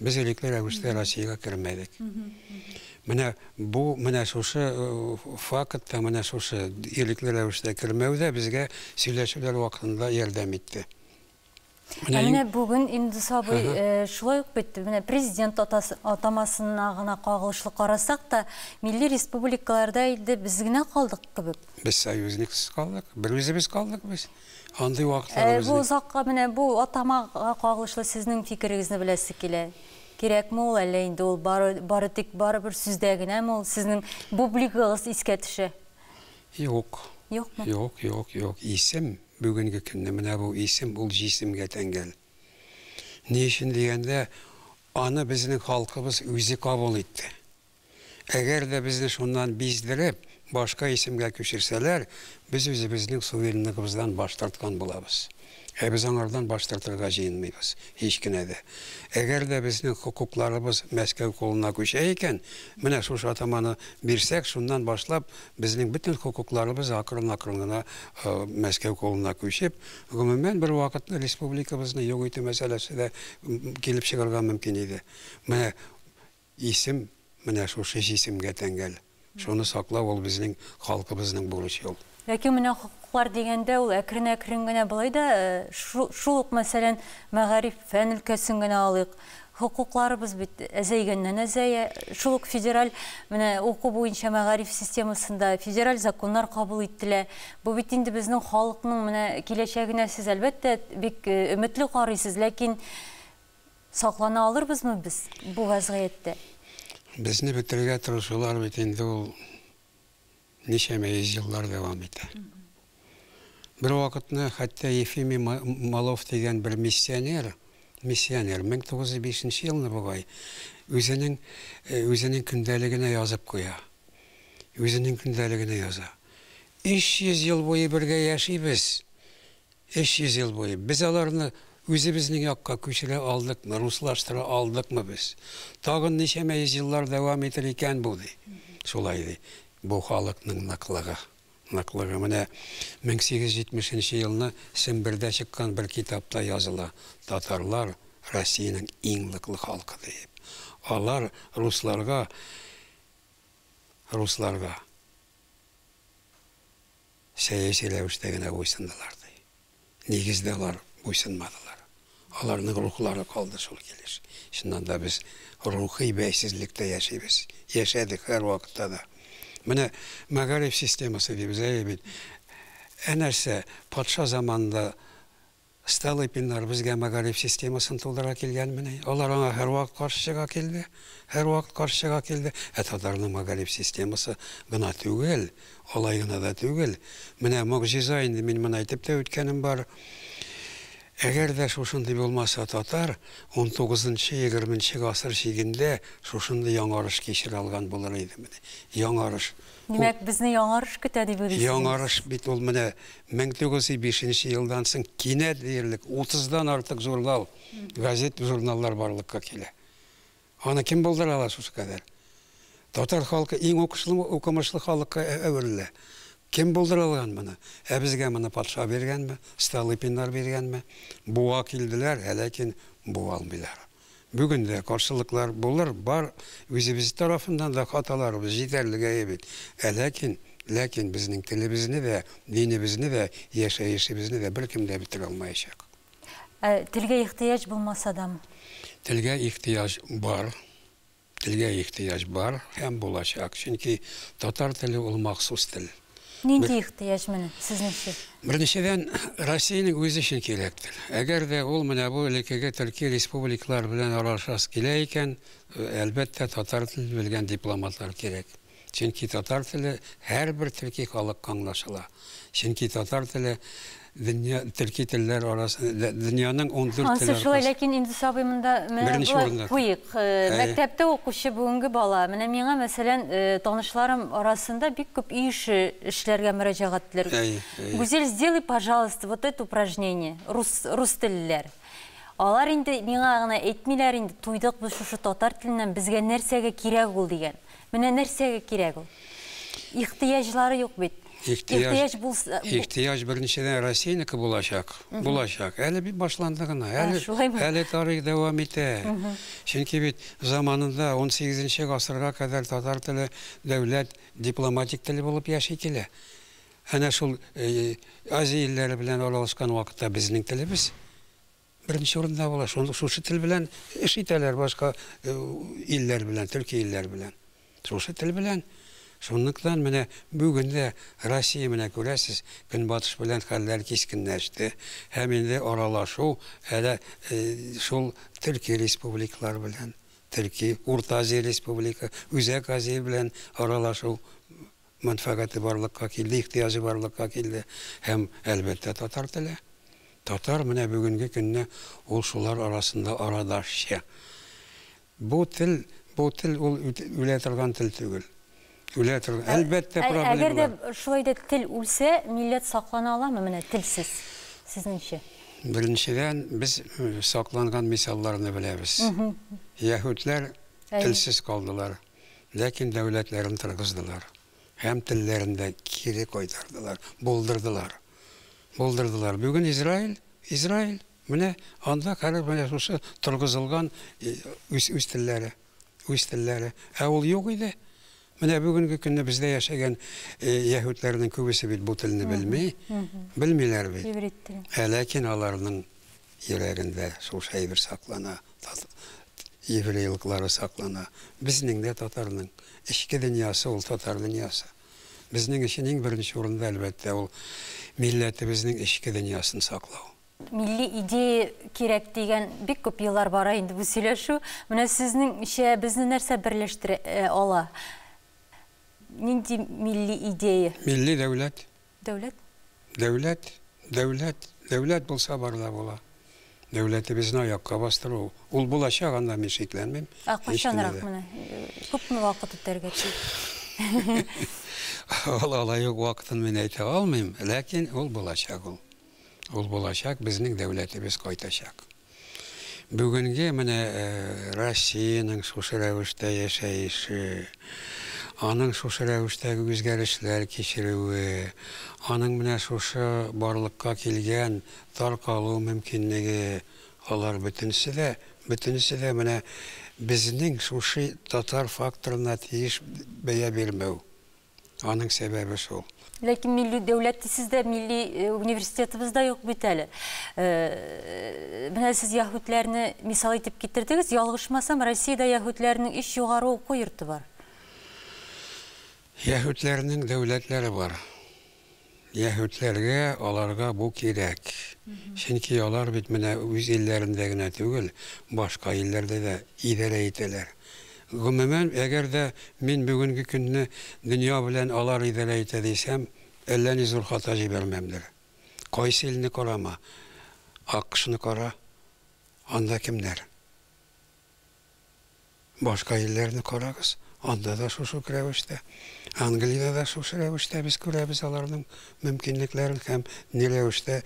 Без элекле рәвештә Россиягә кермәдек. Менә бу, менә шушы э, факт та, менә шушы элекле рәвештә кермәү дә безгә сөйләшүләр вакытында ярдәм итте. Ә менә бүген инде сабый э, шулай ук бит менә президент атамасына гына кагылышлы карасак та, милли республикаларда инде без генә калдык кебек. Без союзниксыз калдык, бер үзебез калдык без. Андый вакытларыбыз Бу озакка менә бу атамага кагылышлы сезнең фикерегезне беләсе килә. Кирәкме ул әллә инде ул бары, бары тик барыбер сүздә генәме ул сезнең бублигыгыз искә төшә? Юк. Юкмы? Юк, юк, юк. Исем бүгенге көнне менә бу исем ул җисемгә тәңгәл. Ни өчен дигәндә, аны безнең халкыбыз үзе кабул итте. Әгәр дә безне шуннан биздереп, башка исемгә күчерсәләр, без үзебезнең суверенлыгыбыздан баш тарткан булабыз. Ә без аңардан баш тартырга җыенмыйбыз, һич кенә дә. Әгәр дә безнең хокукларыбыз Мәскәү кулына күчә икән, менә шушы атаманы бирсәк, шуннан башлап безнең бөтен хокукларыбыз акрын-акрын гына Мәскәү кулына күчеп, гомумән, бервакыт республикабызны юк итү мәсьәләсе дә килеп чыгарга мөмкин иде. Менә Исем менә шушы җисемгә тәңгәл. Шуны саклау ул безнең халкыбызның бурычы ул. Ләкин менә хокуклар дигәндә ул әкрен-әкрен генә болай да шул ук мәсәлән мәгариф, фән өлкәсен генә алыйк. Хокукларыбыз бит әзәйгәннән әзәя. Шул ук федераль менә уку буенча мәгариф системасында федераль законнар кабул ителә. Бу бит инде безнең халыкның менә киләчәгенә сез әлбәттә бик өметле карыйсыз, ләкин Саклана алырбызмы без бу вәзгыятьтә? Безне бетерергә тырышулар бит инде ул ничәмә йөз еллар дәвам итә. Бервакытны хәтта Ефимий Малов дигән бер миссионер, миссионер, 1905 нче елны бугай, үзенең, үзенең көндәлегенә язып куя. Үзенең көндәлегенә яза. 300 ел буе бергә яшибез, 300 ел буе без аларны үзебезнең якка күчерә алдыкмы, руслаштыра алдыкмы без? Тагын ничәмә йөз еллар дәвам итер икән бу? ди. Шулай ди. Бу халыкның ныклыгы. Ныклыгы менә 1870 елны Сембердә чыккан бер китапта языла, татарлар, Россиянең иң ныклы халкы диеп. Алар русларга, русларга. сәяси рәвештә генә буйсындылар, ди. Нигездә алар буйсынмадылар. Аларның рухлары калды шул килеш. Чыннан да, без рухи бәйсезлектә яшибез, яшәдек һәрвакытта да. Менә мәгариф системасы дибез, әйе бит. Ә нәрсә, патша заманында Столыпиннар безгә мәгариф системасын тудыра килгәнмени? Алар аңа һәрвакыт каршы чыга килде, һәрвакыт каршы чыга килде. Ә татарның мәгариф системасы гына түгел, алай гына да түгел. Менә могҗиза инде, мин моны әйтеп тә үткәнем бар. Әгәр дә шушындый булмаса, татар унтугызынчы, егерменче гасыр чигендә шушындый яңарыш кичерә алган булыр идемени? Яңарыш. Димәк, безне яңарыш көтә дип уйлыйсыз? Яңарыш бит ул менә 1905 нче елдан соң кинәт диярлек 30 дан артык журнал, газет, журналлар барлыкка килә. Аны кем булдыра ала шушы кадәр? Татар халкы иң укышлы, укымышлы халыкка әверелә. Кем булдыра алган моны? Ә безгә моны патша биргәнме, Столыпиннар биргәнме? Буа килделәр, ә ләкин буа алмыйлар. Бүген дә каршылыклар булыр, бар, үзебез тарафыннан да хаталарыбыз җитәрлек әйе бит. Ә ләкин, ләкин безнең телебезне дә, динебезне дә, яшәешебезне дә беркем дә бетерә алмаячак. Ә телгә ихтыяҗ булмаса дам? Телгә ихтыяҗ бар. Телгә ихтыяҗ бар һәм булачак, чөнки татар теле ул махсус тел. Нинди ихтыяҗ моны, сезнеңчә? Беренчедән, Россиянең үзе өчен кирәк тел. Әгәр дә ул менә бу элеккеге төрки республикалар белән аралашасы килә икән, әлбәттә, татар телен белгән дипломатлар кирәк. Чөнки татар теле һәрбер төрки халыкка аңлашыла. Чөнки татар теле дөнья төрки телләр арасы дөньяның 14 теле аркасы. Ансы шулай, ләкин инде сабый монда менә куйык. Э, мәктәптә укучы бүгенге бала. Менә миңа, мәсәлән, э, танышларым арасында бик күп үй эше эшләргә мөрәҗәгать ителер. Гүзел, сделай, пожалуйста, вот это упражнение. Рус рус телләр. Алар инде миңа гына әйтмиләр инде, туйдык без шушы татар теленнән, безгә нәрсәгә кирәк ул дигән. Менә нәрсәгә кирәк ул? Ихтыяҗлары юк бит. Ихтыяҗ булса... Ихтыяҗ беренчедән Россиянеке булачак. Булачак. Әле бит башланды гына. Әле тарих дәвам итә. Чөнки бит заманында 18 нче гасырга кадәр татар теле дәүләт дипломатик теле булып яши килә. Әнә шул Азия илләре белән аралашкан вакытта безнең телебез Беренче урында була, шуны шушы тел белән эш итәләр башка илләр белән, төрки илләр белән. Шушы тел белән. Шунлыктан менә бүген дә Россия менә күрәсез, көнбатыш белән хәлләр кискенләште, һәм инде аралашу әле шул төрки республикалар белән, төрки, Урта Азия республика, Үзәк Азия белән аралашу мәнфәгате барлыкка килде, ихтыяҗы барлыкка килде һәм, әлбәттә, татар теле. Татар менә бүгенге көнне ул шулар арасында арадашчы. Бу тел, бу тел ул үлә торган тел түгел. Үлә торган, әлбәттә, проблемалар. Әгәр дә шулай да тел үлсә, милләт саклана аламы менә телсез, сезнеңчә? Беренчедән, без сакланган мисалларны беләбез. Яһүдләр телсез калдылар. Ләкин дәүләтләрен торгыздылар һәм телләрен дә кире кайтардылар, булдырдылар. Булдырдылар. Бүген Израиль, Израиль, менә анда хәзер менә шушы торгызылган үз, үз телләре, үз телләре. Ә ул юк иде. Менә бүгенге көнне бездә яшәгән яһүдләрнең күбесе бит бу телне белми, белмиләр бит. Иврит теле. Ә ләкин аларның йөрәгендә шушы әйбер саклана, еврейлыклары саклана. Безнең дә татарның эчке дөньясы ул татар дөньясы. Безнең өчен иң беренче урында, әлбәттә, ул милләтебезнең эчке дөньясын саклау. Милли идея кирәк дигән бик күп еллар бара инде бу сөйләшү. Менә сезнеңчә, безне нәрсә берләштерә ала? Нинди милли идея? Милли дәүләт. Дәүләт? Дәүләт, дәүләт, дәүләт булса бар да була. Дәүләтебезне аякка бастыру, ул булачак, анда мин шикләнмим. Ә кайчанрак менә? Күпме вакыт үтәргә тиеш? Ул алай ук вакытын мин әйтә алмыйм, ләкин ул булачак ул. Ул булачак, безнең дәүләтебез кайтачак. Бүгенге менә Россиянең шушы рәвештә яшәеше, аның шушы рәвештәге үзгәрешләр кичерүе, аның менә шушы барлыкка килгән таркалу мөмкинлеге, алар бөтенесе дә, бөтенесе дә менә безнең шушы татар факторына тиеш бәя бирмәү. Аның сәбәбе шул. Ләкин милли дәүләт дисез дә, милли э, университетыбыз да юк бит әле. Э, менә сез яһүдләрне мисал итеп китердегез. Ялгышмасам, Россиядә яһүдләрнең өч югары уку йорты бар. Яһүдләрнең дәүләтләре бар. Яһүдләргә аларга бу кирәк. Чөнки алар бит менә үз илләрендә генә түгел, башка илләрдә дә идарә итәләр. Гомумән, әгәр дә мин бүгенге көнне дөнья белән алар идарә итә дисәм, әллә ни зур хата җибәрмәмдер. Кайсы илне карама, АКШны кара, анда кемнәр? Башка илләрне карагыз, анда да шушы ук рәвештә. Англиядә дә шушы рәвештә без күрәбез аларның мөмкинлекләрен һәм ни рәвештә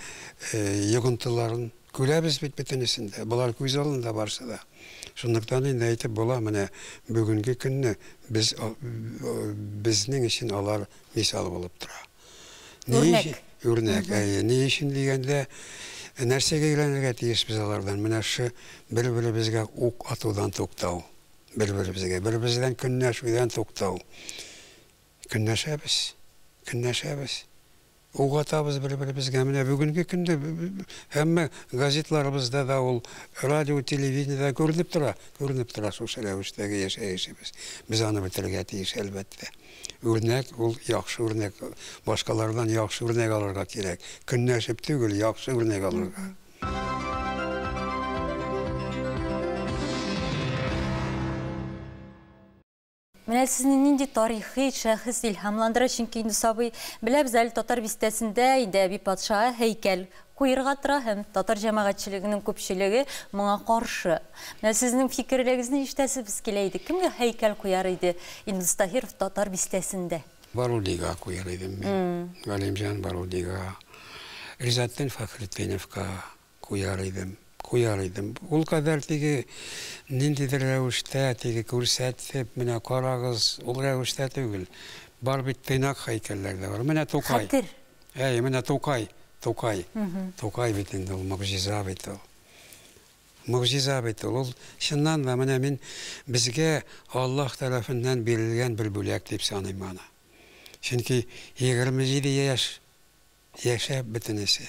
йогынтыларын. Күрәбез бит бөтенесен дә, болар күз алдында барысы да. Шунлыктан инде әйтеп була, менә бүгенге көнне без, безнең өчен алар мисал булып тора. Үрнәк. Үрнәк, әйе. Ни өчен дигәндә, нәрсәгә өйрәнергә тиешбез алардан? Менә шушы бер-беребезгә ук атудан туктау. Бер-беребезгә, бер-беребездән көнләшүдән туктау. Көнләшәбез, көнләшәбез. Ук атабыз бер-беребезгә. Менә бүгенге көндә һәммә газетларыбызда да ул, радио, телевидениедә күренеп тора, күренеп тора шушы рәвештәге яшәешебез. Без аны бетерергә тиеш, әлбәттә. Үрнәк ул яхшы үрнәк. Башкалардан яхшы үрнәк алырга кирәк. Көнләшеп түгел, яхшы үрнәк алырга. Менә сезне нинди тарихи шәхес илһамландыра, чөнки инде сабый беләбез әле татар бистәсендә инде әби патша һәйкәл Куерга тора һәм татар җәмәгатьчелегенең күпчелеге моңа каршы. Менә сезнең фикерлегезне ишетәсебез килә иде, кемгә һәйкәл куяр иде Илдус Таһиров татар бистәсендә? Барудига куяр идем мин. Галимҗан Барудига, Ризатдин Фәхретдиновка куяр идем. Куяр идем. Ул кадәр теге ниндидер рәвештә, теге күрсәтеп, менә карагыз, ул рәвештә түгел. Бар бит тыйнак һәйкәлләр дә бар. Менә Тукай. Хәтер. Әй, менә Тукай, Тукай. Тукай бит инде ул, могҗиза бит ул. Могҗиза бит ул. Ул, чыннан да, менә мин безгә Аллаһ тарафыннан бирелгән бер бүләк дип саныйм аны. Чөнки 27 яшь яшәп бөтенесе,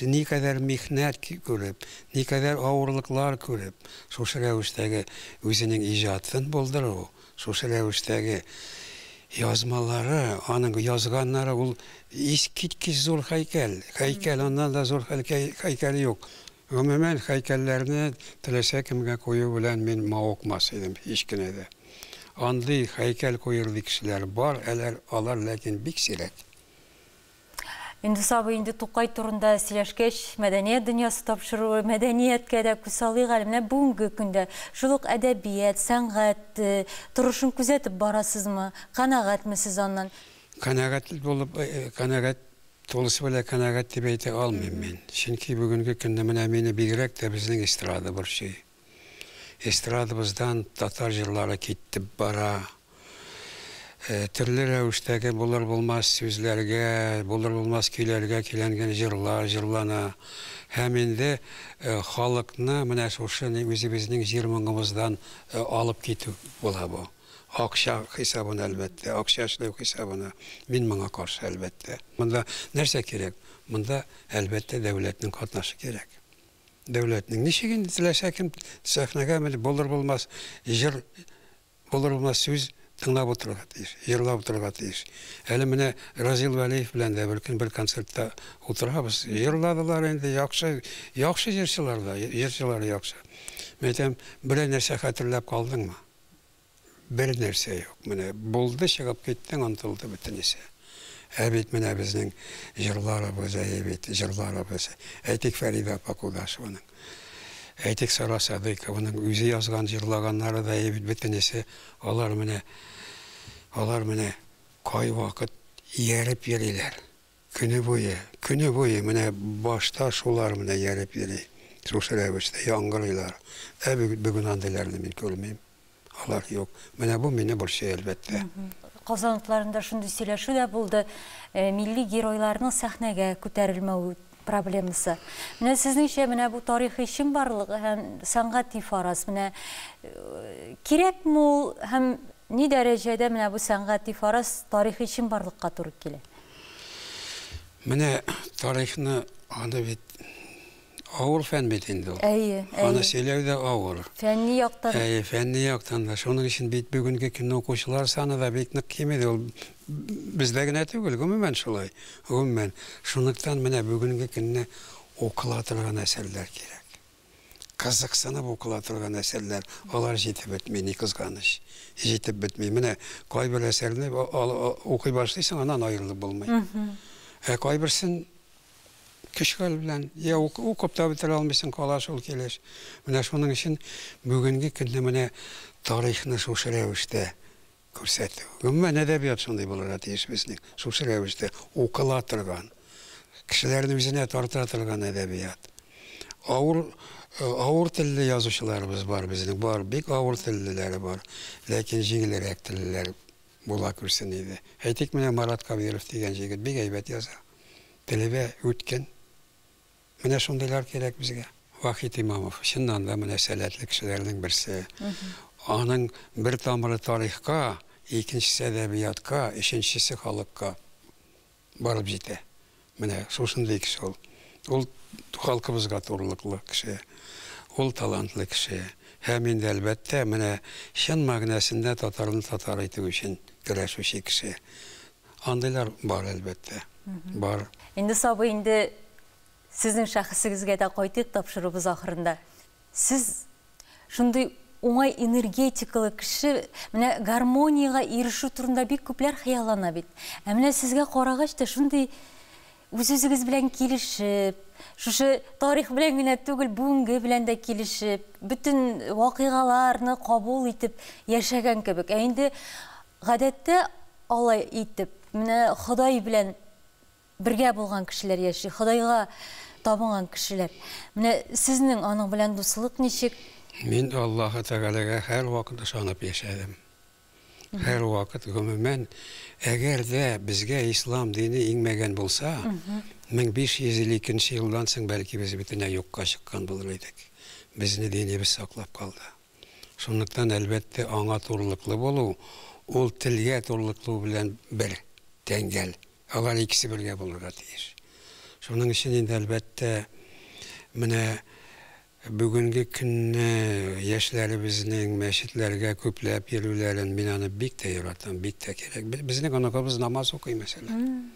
никадәр михнәт күреп, никадәр авырлыклар күреп, шушы рәвештәге үзенең иҗатын булдыру, Шушы рәвештәге язмалары, аның язганнары ул искиткеч зур һәйкәл. Һәйкәл, аннан да зур һәлкәй-һәйкәл юк. Гомумән, һәйкәлләрне теләсә кемгә кую белән мин мавыкмас идем, һич кенә дә. Андый һәйкәл куерлый кешеләр бар, әләр алар, ләкин бик сирәк. Индус абый, инде Тукай турында сөйләшкәч, мәдәният дөньясы тапшыруы, мәдәнияткә дә күз салыйк әле. Менә бүгенге көндә шул ук әдәбият, сәнгать торышын күзәтеп барасызмы? Канәгатьме сез аннан? Канәгать булып, канәгать, тулысы белән канәгать дип әйтә алмыйм мин. Чөнки бүгенге көндә менә мине бигрәк тә безнең эстрада борчый. Эстрадабыздан татар җырлары китеп бара. Төрле рәвештәге булыр-булмас сүзләргә, булыр-булмас көйләргә көйләнгән җырлар җырлана. Һәм инде халыкны менә шушы үзебезнең җир моңыбыздан алып китү була бу. Акча хисабына, әлбәттә, акча эшләү хисабына. Мин моңа каршы, әлбәттә. Монда нәрсә кирәк? Монда, әлбәттә, дәүләтнең катнашы кирәк. дәүләтнең. Ничек инде теләсә кем сәхнәгә менеп булыр-булмас җыр булыр-булмас сүз тыңлап утырырга тиеш, җырлап утырырга тиеш. Әле менә Разил Вәлиев белән дә бер көн бер концертта утырабыз. Җырладылар инде, яхшы, яхшы җырчылар да, җырчылары яхшы. Мин әйтәм, берәр нәрсә хәтерләп калдыңмы? Бер нәрсә юк, менә булды, чыгып киттең, онтылды бөтенесе. Ә бит менә безнең җырларыбыз, әйе бит, җырларыбыз. Әйтик, Фәридә апа Кудашеваның, әйтик, Сара Садыйкованың үзе язган, җырлаганнары да, әйе бит, бөтенесе. Алар менә, алар менә кайвакыт ияреп йөриләр. Көне буе, көне буе менә башта шулар менә яреп йөри, шушы рәвештә яңгырыйлар. Ә бү бүген андыйларны мин күрмим. Алар юк. Менә бу мине борчый, әлбәттә. Казан утларында шундый сөйләшү дә булды, милли геройларның сәхнәгә күтәрелмәве проблемасы. Менә сезнеңчә, менә бу тарихи чынбарлык һәм сәнгати фараз, менә кирәкме ул һәм ни дәрәҗәдә менә бу сәнгати фараз тарихи чынбарлыкка туры килә? Менә тарихны аны бит авыр фән бит инде ул. Әйе, әйе. Аны сөйләү дә авыр. Фәнни яктан. Әйе, фәнни яктан да. Шуның өчен бит бүгенге көнне укучылар саны да бик нык кими ул. Бездә генә түгел, гомумән шулай. Гомумән. Шунлыктан менә бүгенге көнне укыла торган әсәрләр кирәк. кызыксынып укыла торган әсәрләр, алар җитеп бетми, ни кызганыч. Җитеп бетми. Менә кайбер әсәрне укый башлыйсың, аннан аерылып булмый. Ә кайберсен көч-хәл белән я укып та бетерә алмыйсың, кала шул килеш. Менә шуның өчен бүгенге көнне менә тарихны шушы рәвештә Күрсәтү. Гомумән, әдәбият шундый булырга тиеш безнең, шушы рәвештә укыла торган, кешеләрне үзенә тарта торган әдәбият. Авыр, авыр телле язучыларыбыз бар безнең, бар, бик авыр теллеләре бар, ләкин җиңелрәк теллеләр була күрсен иде. Әйтик, менә Марат Кабиров дигән җегет бик әйбәт яза, теле дә үткен. Менә шундыйлар кирәк безгә. Вахит Имамов, чыннан да, менә сәләтле кешеләрнең берсе. Аның бер тамыры тарихка, икенчесе әдәбиятка, өченчесе халыкка барып җитә. Менә шушындый кеше ул. Ул халкыбызга турлыклы кеше. Ул талантлы кеше. Һәм инде, әлбәттә, менә чын мәгънәсендә татарны татар итү өчен көрәшүче кеше. Андыйлар бар, әлбәттә. Бар. Инде сабый, инде сезнең шәхесегезгә дә кайтыйк тапшыруыбыз ахырында. Сез шундый уңай энергетикалы кеше, менә гармониягә ирешү турында бик күпләр хыяллана бит. Ә менә сезгә карагач та шундый үз-үзегез белән килешеп, шушы тарих белән генә түгел, бүгенге белән дә килешеп, бөтен вакыйгаларны кабул итеп яшәгән кебек. Ә инде Гадәттә, алай итеп, менә Ходай белән бергә булган кешеләр яши, Ходайга табынган кешеләр. Менә сезнең аның белән дуслык ничек? Мин Аллаһы Тәгаләгә һәрвакыт ышанып яшәдем. Һәрвакыт, гомумән, әгәр дә безгә ислам дине иңмәгән булса, 1552 елдан соң, бәлки, без бөтенләй юкка чыккан булыр идек. Безне динебез саклап калды. Шунлыктан, әлбәттә, аңа турлыклы булу, ул телгә турлыклы белән бер тәңгәл. Алар икесе бергә булырга тиеш. Шуның өчен инде, әлбәттә, менә бүгенге көнне яшьләребезнең мәчетләргә күпләп йөрүләрен мин аны бик тә яратам, бик тә кирәк. Безнең оныкыбыз намаз укый, мәсәлән.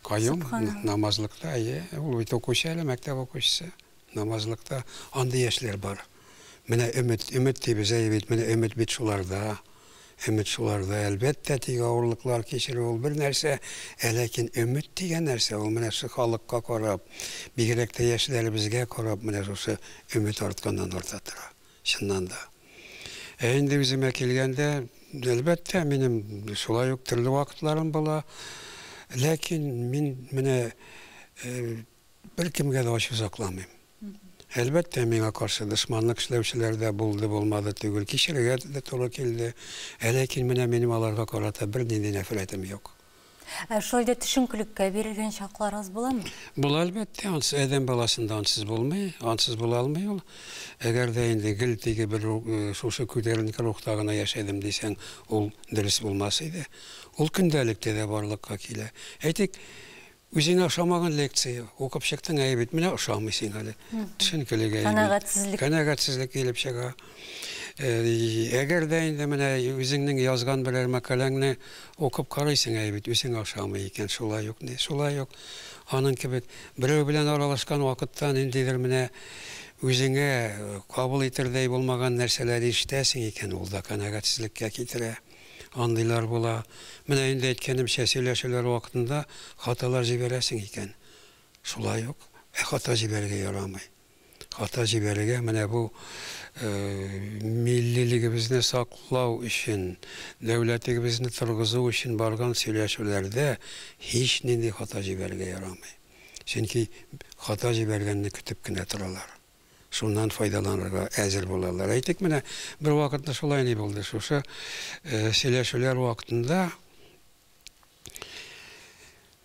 Каюм намазлыкта, әйе, ул бит укучы әле, мәктәп укучысы. Намазлыкта андый яшьләр бар. Менә өмет, өмет дибез, әйе бит, менә өмет бит шуларда. Өмет шуларда, әлбәттә, тик авырлыклар кичерү ул бер нәрсә, ә ләкин өмет дигән нәрсә ул менә шушы халыкка карап, бигрәк тә яшьләребезгә карап менә шушы өмет артканнан-арта тора, чыннан да. Ә инде үземә килгәндә, әлбәттә, минем шулай ук төрле вакытларым була, ләкин мин менә Беркемгә дә ачу сакламыйм. Әлбәттә, миңа каршы дошманлык эшләүчеләр дә булды, булмады түгел, кичерергә дә туры килде. Ә ләкин менә минем аларга карата бернинди нәфрәтем юк. Ә шулай да төшенкелеккә бирелгән чакларыгыз буламы? Була, әлбәттә. Ансыз адәм баласында ансыз булмый, ансыз була алмый ул. Әгәр дә инде гел теге бер шушы күтәренке рухта гына яшәдем дисәң, ул дөрес булмас иде. Ул көндәлек тә дә барлыкка килә. Әйтик, Үзеңә ошамаган лекция укып чыктың, әйе бит, менә ошамый сиңа әле. Төшенкелек әйе. Канәгатьсезлек. Канәгатьсезлек килеп чыга. Әгәр дә инде менә үзеңнең язган берәр мәкаләңне укып карыйсың, әйе бит, үзеңә ошамый икән, шулай ук ни, шулай ук аның кебек берәү белән аралашкан вакытта ниндидер менә үзеңә кабул итердәй булмаган нәрсәләр ишетәсең икән, ул да канәгатьсезлеккә китерә. Андыйлар була. Менә инде әйткәнемчә, сөйләшүләр вакытында хаталар җибәрәсең икән. Шулай ук, ә хата җибәрергә ярамый. Хата җибәрергә менә бу миллилегебезне саклау өчен, дәүләтегебезне торгызу өчен барган сөйләшүләрдә һичнинди хата җибәрергә ярамый. Чөнки хата җибәргәнне көтеп кенә торалар. шуннан файдаланырга әзер булалар. Әйтик, менә бервакытны шулай ни булды, шушы сөйләшүләр вакытында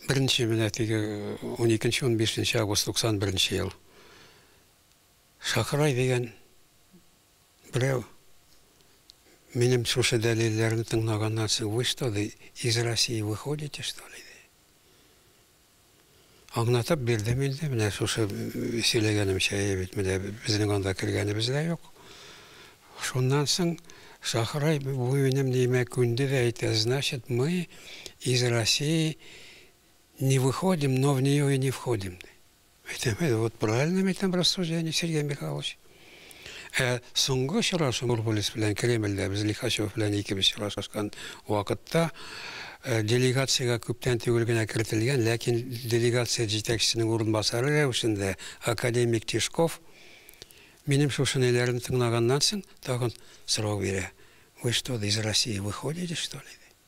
беренче менә теге 12-15 август 91 ел Шакырай дигән берәү минем шушы дәлилләрне тыңлаганнан соң, вы что, из России выходите, что ли? Аңлатып бирдем инде, менә шушы сөйләгәнемчә бит, менә безнең анда кергәнебез дә юк. Шуннан соң Шахрай бу минем ниемә күнде дә әйтә, значит, мы из России не выходим, но в нее и не входим, ди. Әйтәм, вот правильно, әйтәм, рассуждение, Сергей Михайлович. Ә соңгы очрашу Нурбулис белән Кремльдә без Лихачев белән икебез очрашкан вакытта э, делегациягә күптән түгел генә кертелгән, ләкин делегация җитәкчесенең урынбасары рәвешендә академик Тишков минем шушынеләрне тыңлаганнан соң тагын сорау бирә. Вы что, из России выходите, что ли?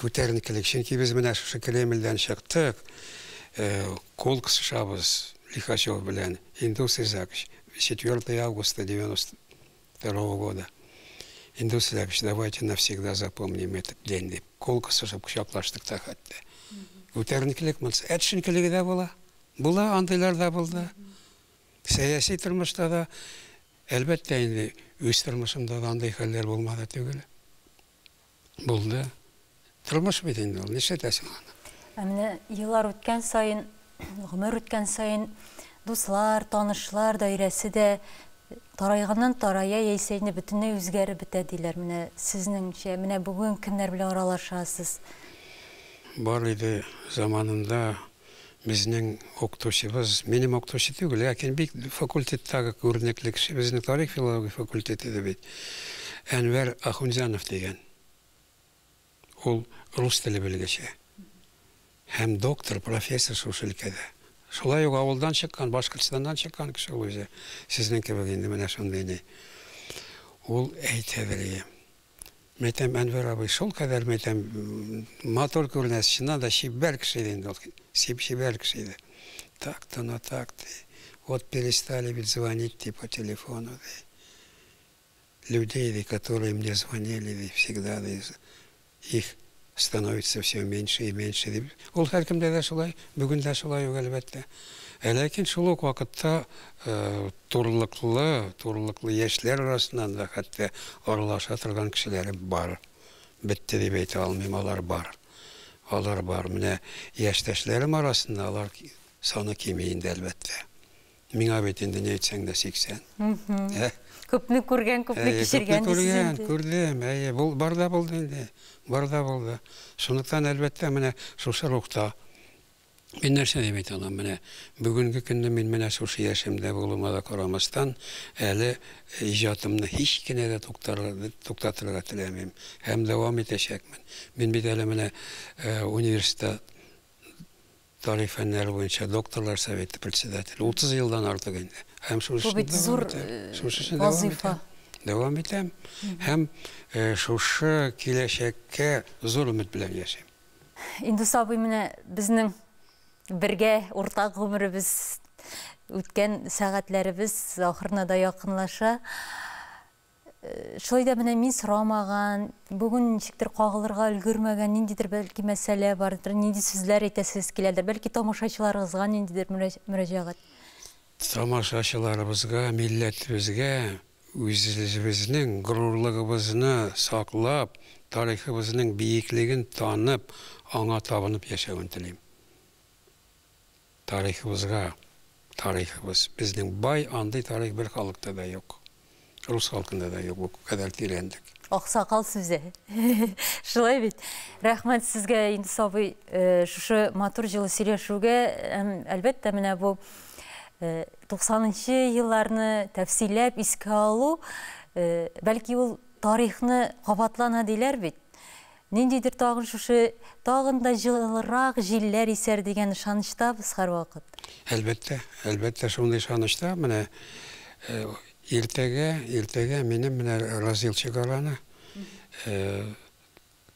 Күтәренкелек, чөнки без менә шушы Кремльдән чыктык, кул кысышабыз Лихачев белән, Индус Изакович, 4 августа 92 года, Индус Изакович, давайте навсегда запомним этот день, дип, кул кысышып кочаклаштык та хәтта. Күтәренкелек монысы. Ә төшенкелеге дә була. Була, андыйлар да булды. Сәяси тормышта да, әлбәттә инде, үз тормышымда да андый хәлләр булмады түгел. Булды. Тормыш бит инде ул, нишләтәсең аны? Ә менә еллар үткән саен, гомер үткән саен дуслар, танышлар даирәсе дә тарайганнан тарая, яисә инде бөтенләй үзгәреп бетә диләр. Менә сезнеңчә, менә бүген кемнәр белән аралашасыз? Бар иде заманында. Безнең укытучыбыз, минем укытучы түгел, ләкин бик факультеттагы күренекле кеше, безнең тарих-филология факультеты иде бит, Әнвәр Ахунҗанов дигән. Ул рус теле белгече һәм доктор, профессор шушы өлкәдә. Шулай ук авылдан чыккан, Башкортстаннан чыккан кеше ул үзе. Сезнең кебек инде менә шундый ни. Ул әйтә, Вәлием. Мәйтәм, Әнвәр абый шулкадәр, мәйтәм, матур күренә, чыннан да чибәр кеше иде инде ул. Чибәр кеше иде. Так то на так, ди. Вот перестали ведь звонить, ди, по телефону, ди. Людей, ди, которые мне звонили, ди, всегда, ди, их Становится всё меньше и меньше, дип, ул һәркемдә дә шулай, бүген дә шулай ук, әлбәттә. Ә ләкин шул ук вакытта турлыклы, турлыклы яшьләр арасыннан да хәтта аралаша торган кешеләре бар. Бетте дип әйтә алмыйм, алар бар. Алар бар. Менә яшьтәшләрем арасында алар саны кими инде, әлбәттә. Миңа бит инде ни әйтсәң дә 80. Ә? Күпне күргән, күпне кичергән дисез инде. Күпне күргән, күрдем. Әйе, бу бар да булды инде. Бар да булды. Шунлыктан әлбәттә менә шушы рухта Мин нәрсә дип әйтә алам? Менә бүгенге көнне мин менә шушы яшемдә булуыма да карамастан, әле иҗатымны һич кенә дә туктатырга теләмим һәм дәвам итәчәкмен. Мин бит әле менә университет тарих фәннәре буенча докторлар советы председателе, 30 елдан артык инде. Һәм шушы эшне дәвам зур итәм. Э, шушы эшне дәвам итәм. Дәвам итәм. Һәм э, шушы киләчәккә зур өмет белән яшим. Инде сабый менә безнең бергә уртак гомеребез үткән сәгатьләребез ахырына да якынлаша. Шулай да менә мин сорамаган, бүген ничектер кагылырга өлгермәгән ниндидер бәлки мәсьәлә бардыр, нинди сүзләр әйтәсез киләдер, бәлки тамашачыларыгызга ниндидер мөрәҗәгать? Тамашачыларыбызга, милләтебезгә үзебезнең горурлыгыбызны саклап, тарихыбызның биеклеген танып, аңа табынып яшәвен телим. Тарихыбызга тарихыбыз безнең бай андый тарих бер халыкта да юк рус халкында да юк бу кадәр тирәнлек. Аксакал сүзе. Шулай бит. Рәхмәт сезгә Индус абый шушы матур җылы сөйләшүгә. Әлбәттә менә бу 90 нчы елларны тәфсилләп искә алу, бәлки ул тарихны кабатлана диләр бит. Ниндидер тагын шушы, тагын да җылырак җилләр исәр дигән ышанычтабыз һәрвакыт. Әлбәттә, әлбәттә шундый ышанычта, менә иртәгә, иртәгә минем менә Разил Чигараны,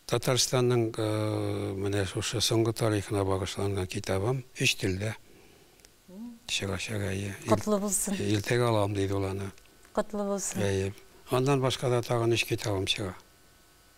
Татарстанның менә шушы соңгы тарихына багышланган китабым өч телдә чыгачак, әйе. Котлы булсын. Иртәгә алам, диде ул аны. Котлы булсын. Әйе. Аннан башка да тагын өч китабым чыга.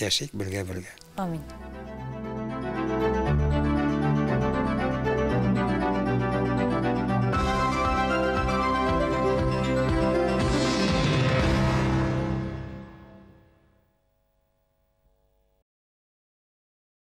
Яшик бергә бергә.